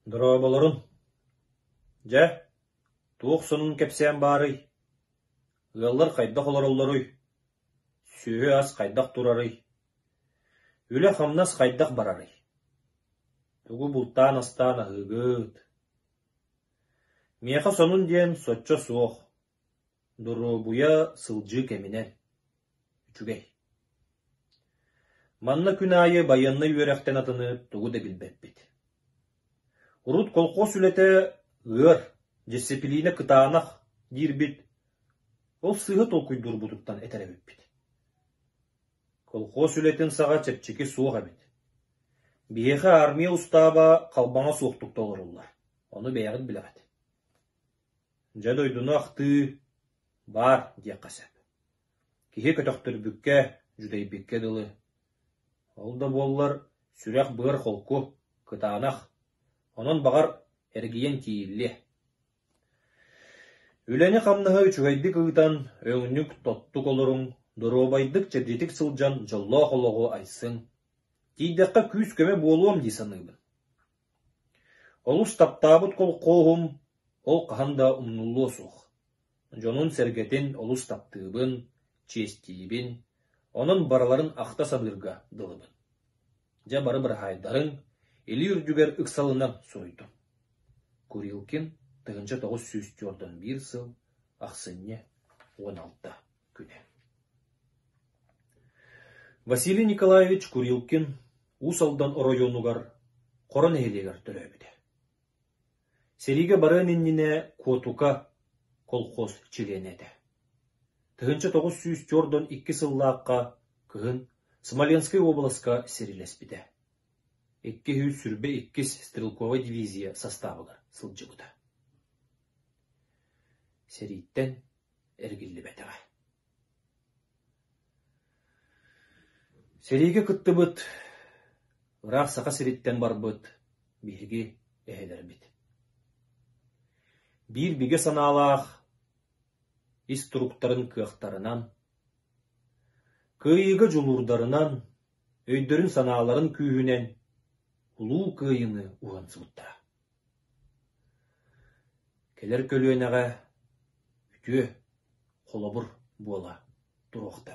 Дорооболорун. Дьэ, туох сонун кэпсээн баарый? Ыаллар хайдах олороллоруй? Сүөһү-ас хайдах турарый? Үлэ-хамнас хайдах барарый? Тугу бултаан-астаан аһыыгыт? Миэхэ сонун диэн соччо суох, доруобуйа сылдьыы кэминэн. Үчүгэй. Манна күн аайы байыаннай үөрэхтэн атыны тугу да билбэппит. Урут колхоз үлэтэ «ыар, дьиссипилиинэ кытаанах» диирбит, ол сыыһа толкуйдуурбутуттан этэр эбиппит Колхуос үлэтин саҕа чэпчэки суох эбит. Биһиэхэ армия устааба халбаҥа суохтук толоруллар, ону бэйэҕит билэҕит Дьэ, дойдуну ахтыы, баар диэххэ сөп. Киһи көтөхтөрбүккэ, дьүдэйбиккэ дылы. Ол да буоллар, сүрэх-быар холку, кытаанах, онон, баҕар, эргийэн тиийиллиэ Үлэни-хамнаһы үчүгэйдик ыытан, өҥнүк, тоттук олоруҥ, доруобайдык, чэбдитик сылдьан дьоллоох олоҕу айсыҥ. Тиийдэххэ күүс-көмө буолуом дии саныыбын. Олус таптаабыт колхоһум ол хаһан да умнулуо суох. Дьонун-сэргэтин олус таптыыбын, чиэстиибин, онон барыларын ахта саныырга дылыбын. дьэ бары быраһаайдарын, илии үрдүгэр ыксалынан суруйдум. Курилкин тыгынча тоҕус сүүс туордан биир сыл, ахсынньы, уон алта күнэ. Василий Николаевич Курилкин Уус Алдан оройуонугар Хоро нэһилиэгэр төрөөбүтэ. Сэриигэ барыан иннинэ Куотука колхоз чилиэнэ этэ. Тыһыынча тоҕус сүүс туордан икки сыллаахха кыһын Смоленскай уобаласка сирилэспитэ. Икки сүүс сүрбэ иккис стрелковай дивизия састаабыгар сылдьыбыта. Сэрииттэн эргиллибэтэҕэ. Сэриигэ кыттыбыт, ыраах Саха сириттэн барбыт биһиги эһэлэрбит. Биир бигэ санаалаах ис туруктарын кыахтарынан, кыайыыга дьулуурдарынан, өйдөрүн-санааларын күүһүнэн улуу кыайыыны уһансыбыттара. Кэлэр көлүөнэҕэ үтүө, холобур буола туруохтара